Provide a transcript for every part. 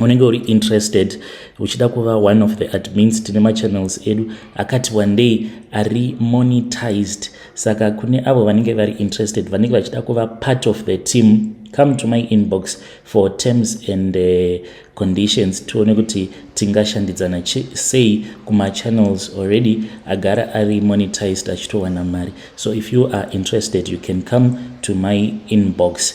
unenge uri interested uchida kuva one of the admins tine machannels edu akati wandei ari monetized saka kune avo vanenge vari interested vanenge vachida kuva part of the team come to my inbox for terms and uh, conditions tione kuti tingashandidzana sei kumachannels already agara ari monetized achitowana mari so if you are interested you can come to my inbox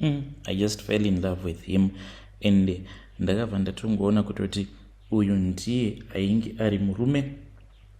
mm, i just fell in love with him and ndakabva ndatongoona kutoti uyu ndiye ainge ari murume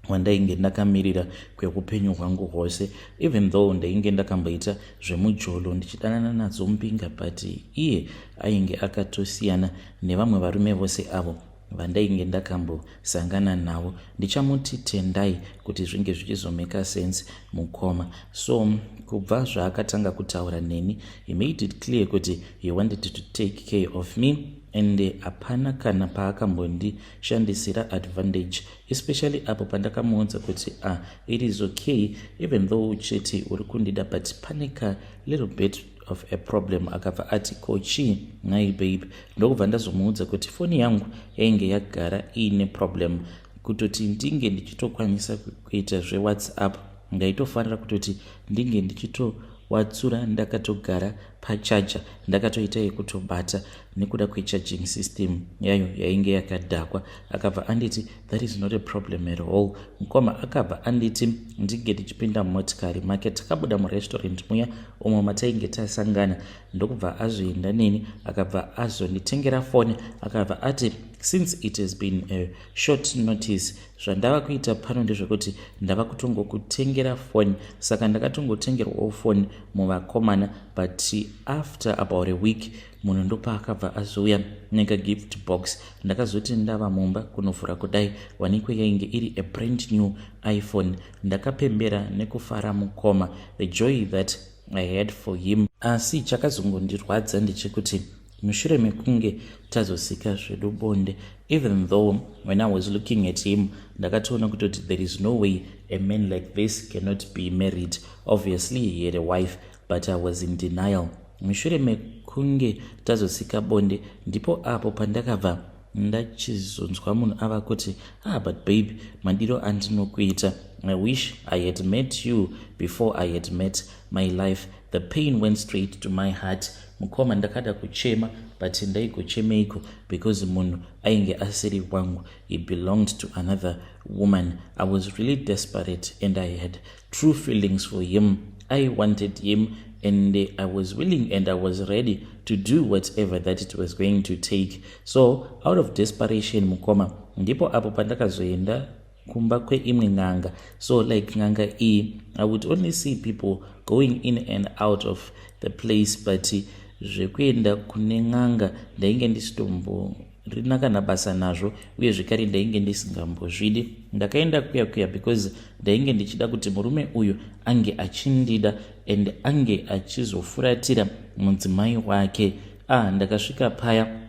wandainge ndakamirira kweupenyu hwangu hwose even though ndainge ndakamboita zvemujolo ndichidanana nadzo mbinga but iye ainge akatosiyana nevamwe varume vose avo vandainge ndakambosangana navo ndichamuti tendai kuti zvinge zvichizomeka sense mukoma so kubva zvaakatanga kutaura neni he made it clear kuti he wanted to take care of me and hapana kana paakambondishandisira advantage especially apo pandakamuudza kuti ah it is okay even though uchiti uri kundida but pane ka little bit of a problem akabva ati ko chii nhai babe ndokubva ndazomuudza kuti foni yangu yainge yagara iine problem kutoti ndinge ndichitokwanisa kuita zvewhatsapp ndaitofanira kutoti ndinge ndichitowatsura ndakatogara pachaja ndakatoita yekutobata nekuda kwechaging system yayo yainge yakadhakwa akabva anditi That is not a problem at all. Mkoma akabva anditi ndinge tichipinda mumotikari make takabuda murestaurant muya umo matainge tasangana ndokubva azoenda neni akabva azonditengera foni akabva ati since it has been a short notice zvandava kuita pano ndezvekuti ndava kutongokutengera foni saka ndakatongotengerwawo foni muvakomana but after about a week munhu ndopaakabva azouya neka gift box ndakazoti ndava mumba kunovhura kudai wanikwe yainge iri a brand new iphone ndakapembera nekufara mukoma the joy that i had for him asi chakazongondirwadza ndechekuti mushure mekunge tazosika zvedu bonde even though when i was looking at him ndakatoona kutoti there is no way a man like this cannot be married obviously he had a wife but i was in denial mushure mekunge tazosika bonde ndipo apo pandakabva ndachizonzwa munhu ava kuti ah but babe madiro andinokuita i wish i had met you before i had met my life the pain went straight to my heart mukoma ndakada kuchema but ndaigochemeiko because munhu ainge asiri wangu he belonged to another woman i was really desperate and i had true feelings for him i wanted him and i was willing and i was ready to do whatever that it was going to take so out of desperation mukoma ndipo apo pandakazoenda kumba kweimwe n'anga so like n'anga iyi i would only see people going in and out of the place but zvekuenda kune n'anga ndainge ndisitombo rina kana basa nazvo uye zvekare ndainge ndisingambozvidi ndakaenda kuya kuya because ndainge ndichida kuti murume uyu ange achindida and ange achizofuratira mudzimai wake ah ndakasvika paya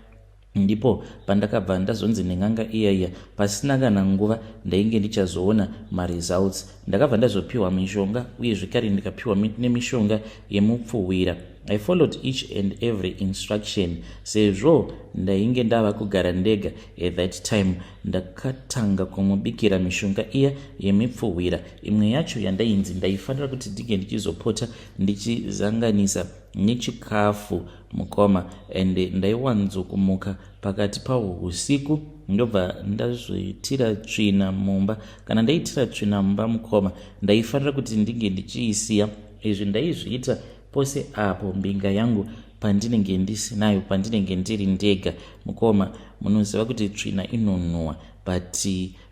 ndipo pandakabva ndazonzi nen'anga iya iya pasina kana nguva ndainge ndichazoona maresults ndakabva ndazopiwa mishonga uye zvekare ndikapiwa nemishonga yemupfuhwira I followed each and every instruction sezvo ndainge ndava kugara ndega at that time ndakatanga kumubikira mishonga iya yemipfuhwira imwe yacho yandainzi ndaifanira kuti ndinge ndichizopota ndichizanganisa nechikafu mukoma and ndaiwanzokumuka pakati pahwo usiku ndobva ndazoitira tsvina mumba kana ndaitira tsvina mumba mukoma ndaifanira kuti ndinge ndichiisiya izvi ndaizviita Pose apo mbinga yangu pandinenge ndisinayo pandinenge ndiri ndega mukoma munoziva kuti tsvina inonhuwa but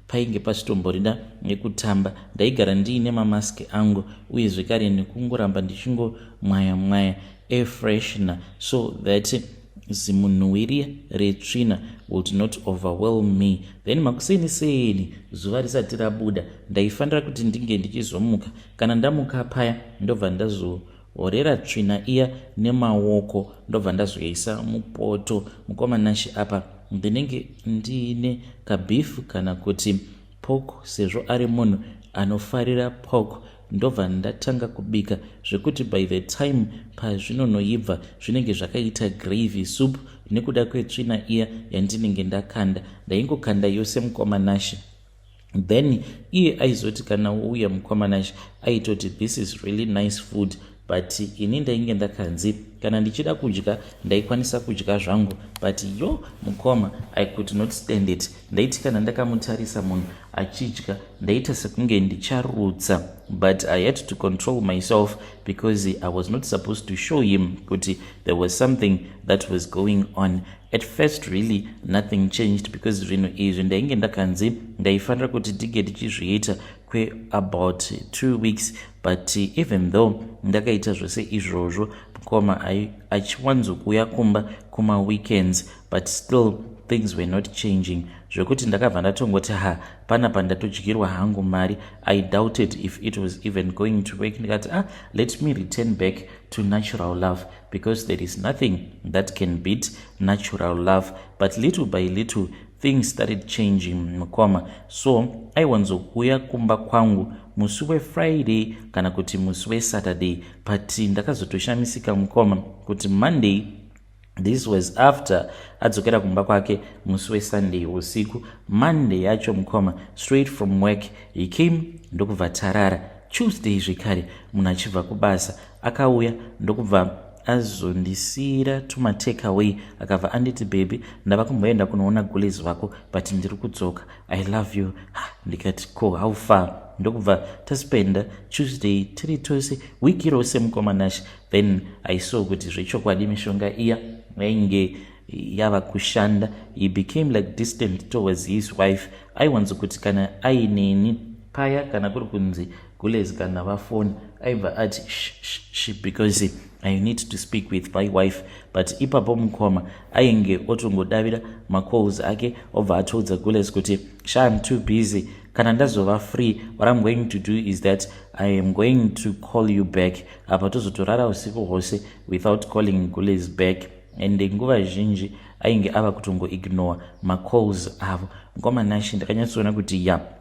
painge pachitomborida nekutamba ndaigara ndiine mamask angu uye zvekare nekungoramba ndichingomwaya mwaya afreshner so that zimunhuwiri retsvina would not overwhelm me then makuseni seni zuva risati rabuda ndaifanira kuti ndinge ndichizomuka Kana ndamuka paya ndobva ndazohorera tsvina iya nemaoko ndobva ndazoisa mupoto. Mukoma Nashe apa ndinenge ndiine kabeef kana kuti pork sezvo ari munhu anofarira pork ndobva ndatanga kubika zvekuti by the time pazvinonoibva zvinenge zvakaita gravy soup nekuda kwetsvina iya yandinenge ndakanda ndaingokanda yose mukoma nashe then iye aizoti kana wouya mukoma nashe aitoti this is really nice food but ini ndainge ndakanzi kana ndichida kudya ndaikwanisa kudya zvangu but yo mukoma i could not stand it ndaiti kana ndakamutarisa munhu achidya ndaita sekunge ndicharutsa but i had to control myself because i was not supposed to show him kuti there was something that was going on At first really nothing changed because zvinhu izvi ndainge ndakanzi ndaifanira kuti ndige ndichizviita kweabout two weeks but even though ndakaita zvese izvozvo mukoma achiwanzokuuya kumba kumaweekends but still things were not changing zvekuti ndakabva ndatongoti ha pana pandatodyirwa hangu mari i doubted if it was even going to work ndikati ah let me return back to natural love because there is nothing that can beat natural love but little by little things started changing mukoma so aiwanzokuuya kumba kwangu musi wefriday kana kuti musi wesaturday but ndakazotoshamisika mukoma kuti monday this was after adzokera kumba kwake musi wesunday usiku monday yacho mukoma straight from work he came ndokubva tarara tuesday zvekare munhu achibva kubasa akauya ndokubva azondisiira tuma take away akabva anditi baby ndava kumboenda kunoona gules vako but ndiri kudzoka i love you ha ndikati ko how far ndokubva taspenda tuesday tiri tose week irose mukoma nash then i saw kuti zvechokwadi mishonga iya yainge yava kushanda he became like distant towards his wife aiwanzokuti kana ainini paya kana kuri kunzi Gulez kana vafona aibva ati shh because i need to speak with my wife but ipapo mukoma ainge otongodavira macalls ake obva atoudza gulez kuti sha im too busy kana ndazova free what im going to do is that i am going to call you back apa tozotorara usiku hwose without calling gulez back ende nguva zhinji ainge ava kutongoignore macalls avo mukoma nashe ndakanyatsoona kuti ya yeah.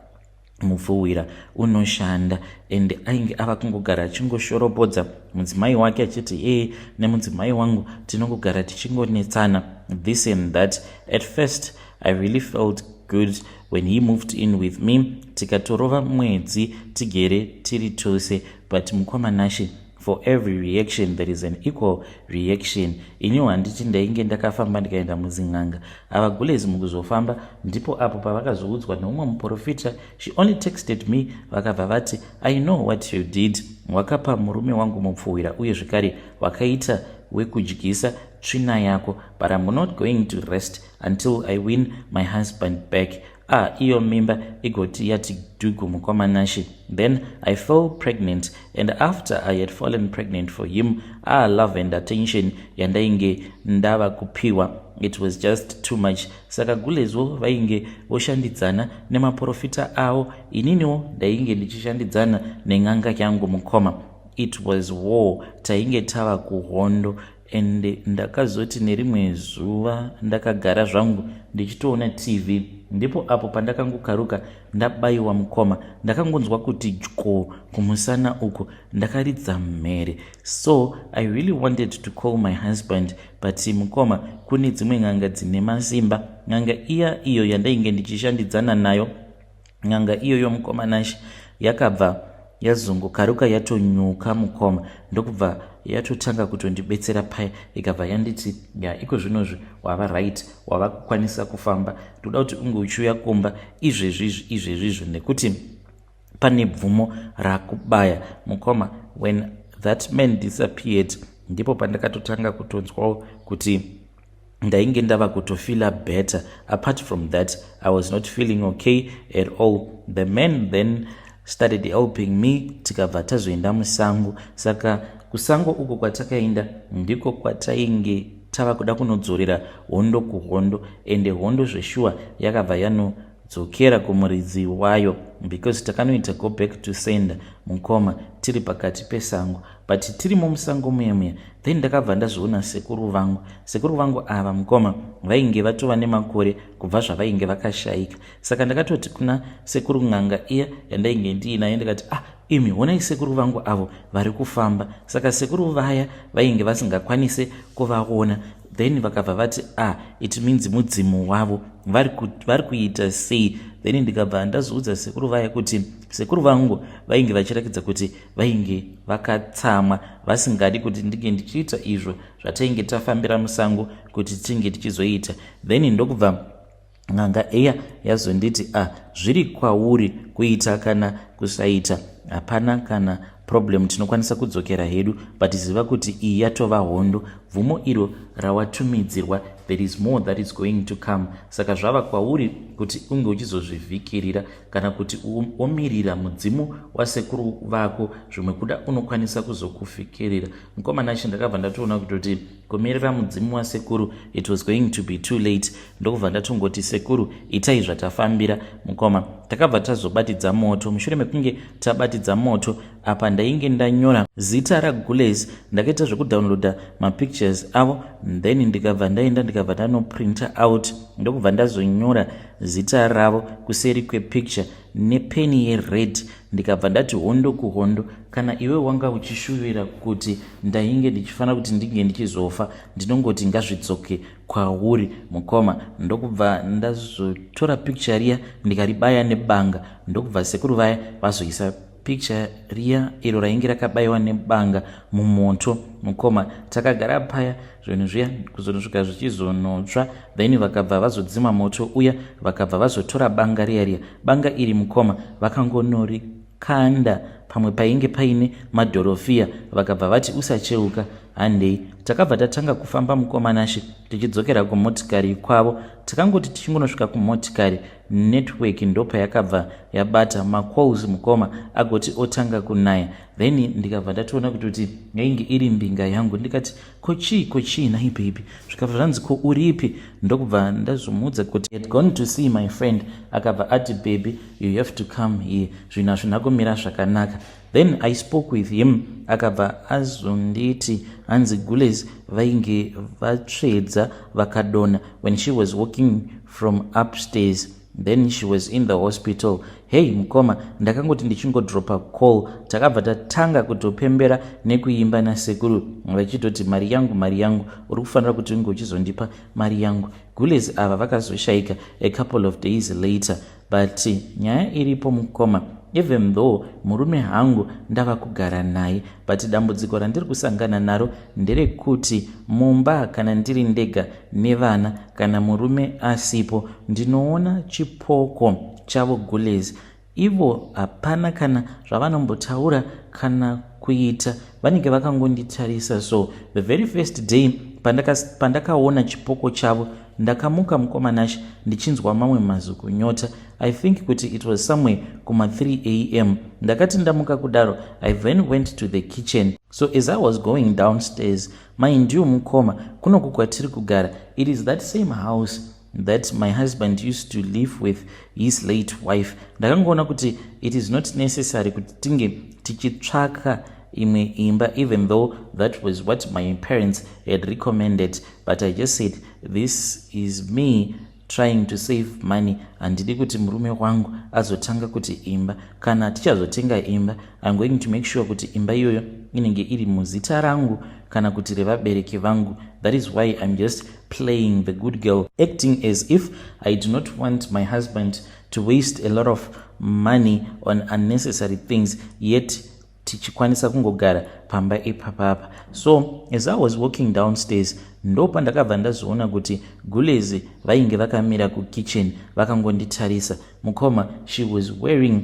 mupfuhwira unoshanda and ainge ava kungogara achingoshoropodza mudzimai wake achiti ee nemudzimai wangu tinongogara tichingonetsana this and that at first i really felt good when he moved in with me tikatorova mwedzi tigere tiri tose but mukoma nashe For every reaction there is an equal reaction. Inyu handiti ndainge ndakafamba ndikaenda muzin'anga. Ava gulezi mukuzofamba ndipo apo pavakazoudzwa neumwe muporofita. She only texted me vakabva vati I know what you did. Wakapa murume wangu mupfuhwira uye zvekare wakaita wekudyisa tsvina yako but I'm not going to rest until I win my husband back. ah iyo mimba igoti yati dhugu mukoma nashe then i fell pregnant and after i had fallen pregnant for him ah love and attention yandainge ndava kupiwa it was just too much saka gulezvo vainge voshandidzana nemaprofita avo ininiwo ndainge ndichishandidzana nen'anga yangu mukoma it was war tainge tava kuhondo and ndakazoti nerimwe zuva ndakagara zvangu ndichitoona tv ndipo apo pandakangokaruka ndabayiwa mukoma ndakangonzwa kuti dyo kumusana uku ndakaridza mhere so i really wanted to call my husband but mukoma kune dzimwe n'anga dzine masimba n'anga iya iyo yandainge ndichishandidzana nayo N'anga iyoyo mukoma Nashe yakabva yazongokaruka yatonyuka mukoma ndokubva yatotanga kutondibetsera paya ikabva yanditi ya iko zvinozvi wava right wava kukwanisa kufamba ndoda kuti unge uchiuya kumba izvezvizvi izvezvizvi nekuti pane bvumo rakubaya mukoma when that man disappeared ndipo pandakatotanga kutonzwawo kuti ndainge ndava kutofeela better apart from that i was not feeling okay at all the man then started helping me tikabva tazoenda musango saka kusango uko kwatakaenda ndiko kwatainge tava kuda kunodzorera hondo kuhondo ende hondo zveshuwa yakabva yanodzokera kumuridzi wayo because takanoita go back to sender mukoma tiri pakati pesango but tirimo musango muya muya then ndakabva ndazviona sekuru vangu sekuru vangu ava mukoma vainge vatova nemakore kubva zvavainge vakashayika saka ndakatoti kuna sekuru n'anga iya yandainge ndiinaye ndikati ah imi honai sekuru vangu avo vari kufamba saka sekuru vaya vainge vasingakwanise kuvaona then vakabva vati ah it means mudzimu wavo vari kuita sei then ndikabva ndazoudza sekuru vaya kuti sekuru vangu vainge vachirakidza kuti vainge vakatsamwa vasingadi kuti ndinge ndichiita izvo zvatainge tafambira musango kuti tinge tichizoita then ndokubva n'anga eya yazonditi a ah, zviri kwauri kuita kana kusaita hapana kana problem tinokwanisa kudzokera hedu but ziva kuti iyi yatova hondo bvumo iro rawatumidzirwa there is more that is going to come saka zvava kwauri kuti unge uchizozvivhikirira kana kuti omirira mudzimu wasekuru vako zvimwe kuda unokwanisa kuzokufikerera mukoma nashe ndakabva ndatoona kutoti kumirira mudzimu wasekuru it was going to be too late ndokubva ndatongoti sekuru itai zvatafambira mukoma takabva tazobatidza moto mushure mekunge tabatidza moto apa ndainge ndanyora zita ragules ndakaita zvekudownloada mapictures avo then ndikabva ndaenda ndikabva ndanoprinta out ndokubva ndazonyora zita ravo kuseri kwepicture nepeni yered ndikabva ndati hondo kuhondo kana iwe wanga uchishuvira kuti ndainge ndichifanira kuti ndinge ndichizofa ndinongoti ngazvidzoke kwauri mukoma ndokubva ndazotora picture riya ndikaribaya nebanga ndokubva sekuru vaya vazoisa picture riya iro rainge rakabayiwa nebanga mumoto mukoma takagara paya zvinhu zviya kuzonosvika zvichizonotsva then vakabva vazodzima moto uya vakabva vazotora banga riya riya banga iri mukoma vakangonori kanda pamwe painge paine madhorofiya vakabva vati usacheuka handei takabva tatanga kufamba mukomanashe tichidzokera kumotikari kwavo takangoti tichingonosvika kumotikari network ndopayakabva yabata macalls mukoma agoti otanga kunaya then ndikabva ndatoona kuti kuti yainge iri mbinga yangu ndikati ko chii ko chii nai baby zvikabva zvanzi ko uripi ndokubva ndazomuudza kuti had gone to see my friend akabva ati baby you have to come here zvinhu hazvina kumira zvakanaka Then I spoke with him akabva azonditi hanzi gules vainge vatsvedza vakadona when she was walking from upstairs then she was in the hospital hei mukoma ndakangoti ndichingodropa call takabva tatanga kutopembera nekuimba nasekuru vachitoti mari yangu mari yangu uri kufanira kuti unge uchizondipa mari yangu gules ava vakazoshaika a couple of days later But nyaya iripo mukoma even though murume hangu ndava kugara naye but dambudziko randiri kusangana naro nderekuti mumba kana ndiri ndega nevana kana murume asipo ndinoona chipoko chavo gulez ivo hapana kana zvavanombotaura kana kuita vanenge vakangonditarisa so the very first day pandakaona pandaka chipoko chavo ndakamuka mukomanash ndichinzwa mamwe mazwi kunyota i think kuti it was somewhere kuma 3 am ndakati ndamuka kudaro i then went to the kitchen so as i was going downstairs maindiu mukoma kunoku kwatiri kugara it is that same house that my husband used to live with his late wife ndakangoona kuti it is not necessary kuti tinge tichitsvaka imwe imba even though that was what my parents had recommended but i just said this is me trying to save money handidi kuti murume wangu azotanga kuti imba kana tichazotenga imba iam going to make sure kuti imba iyoyo inenge iri muzita rangu kana kuti revabereki vangu that is why iam just playing the good girl acting as if i do not want my husband to waste a lot of money on unnecessary things yet tichikwanisa kungogara pamba ipapapa so as i was walking downstairs ndopandakabva ndazoona kuti gulezi vainge vakamira kukitchen vakangonditarisa mukoma she was wearing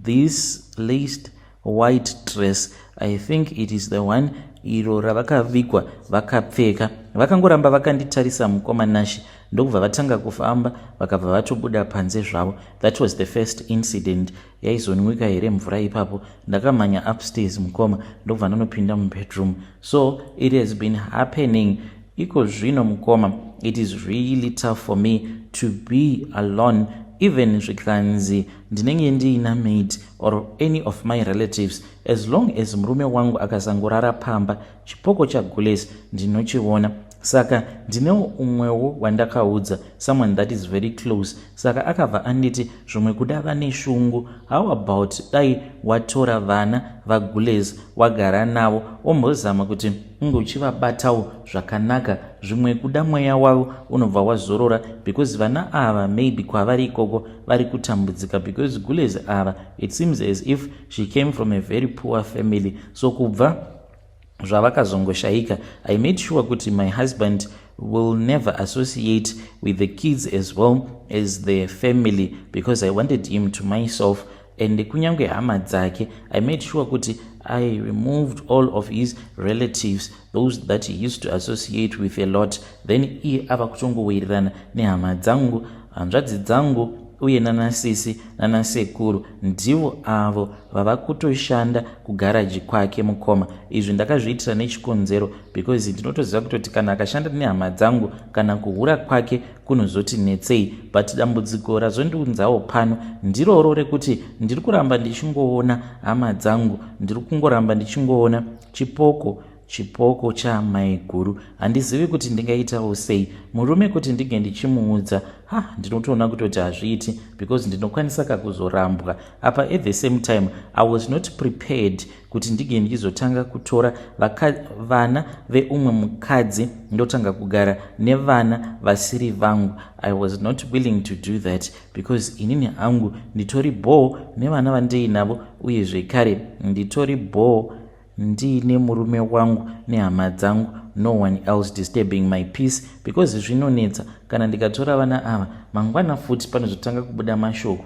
this laced white dress i think it is the one iro ravakavigwa vakapfeka vakangoramba vakanditarisa mukoma nashe ndokubva vatanga kufamba vakabva vatobuda panze zvavo that was the first incident yaizonwika here mvura ipapo ndakamhanya upstairs mukoma ndokubva ndonopinda mubedroom so it has been happening iko zvino mukoma it is really tough for me to be alone even zvikanzi ndinenge ndiina maid or any of my relatives as long as murume wangu akasangorara pamba chipoko chagules ndinochiona saka ndinewo umwewo wandakaudza someone that is very close saka akabva anditi zvimwe kuda vane shungu how about dai watora vana vagules wagara navo wombozama kuti unge uchivabatawo zvakanaka zvimwe kuda mweya wavo unobva wazorora because vana ava maybe kwavari ikoko vari kutambudzika because gules ava it seems as if she came from a very poor family so kubva zvavakazongoshaika i made sure kuti my husband will never associate with the kids as well as the family because i wanted him to myself and kunyange hama dzake i made sure kuti i removed all of his relatives those that he used to associate with a lot then iye ava kutongowirirana nehama dzangu hanzvadzi dzangu uye nanasisi nanasekuru ndivo avo vava kutoshanda kugaraji kwake mukoma izvi ndakazviitira nechikonzero because ndinotoziva kutoti kana akashanda nehama dzangu kana kuhura kwake kunozoti netsei but dambudziko razondiunzawo pano ndiroro rekuti ndiri kuramba ndichingoona hama dzangu ndiri kungoramba ndichingoona chipoko chipoko chamaiguru handizivi kuti ndingaitawo sei murume kuti ndinge ndichimuudza ha ndinotoona kutoti hazviiti because ndinokwanisa kakuzorambwa apa at the same time i was not prepared kuti ndige ndichizotanga kutora vaka, vana veumwe mukadzi ndotanga kugara nevana vasiri vangu i was not willing to do that because inini hangu nditori bhoo nevana vandiinavo uye zvekare nditori bhoo ndiine murume wangu nehama dzangu no one else disturbing my peace because zvinonetsa kana ndikatora vana ava mangwana futi panozotanga kubuda mashoko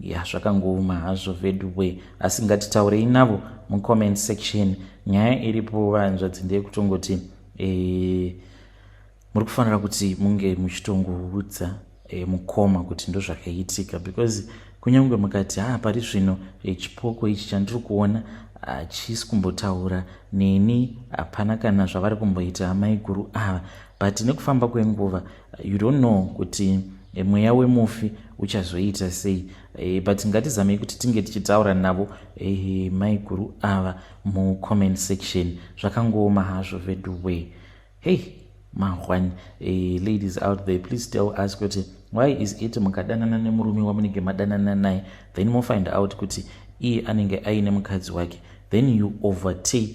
ya zvakangooma hazvo veduwe asi ngatitaurei navo mucomment section nyaya iripo vahanzvadzi ndeyekutongoti e, muri kufanira kuti munge muchitongoudza e, mukoma kuti ndozvakaitika because kunyange mukati haa pari zvino e, chipoko ichi chandiri kuona hachisi kumbotaura neni hapana kana zvavari kumboita amaiguru ava but nekufamba kwenguva You don't know kuti eh, mweya wemufi uchazoita sei e, but ngatizamei kuti tinge tichitaura navo e, maiguru ava mucomment section zvakangooma hazvo veduway hey mahwani e, ladies out there please tell us kuti why is it mukadanana nemurume wamunenge madanana naye then mofind out kuti iye anenge aine mukadzi wake then you overtake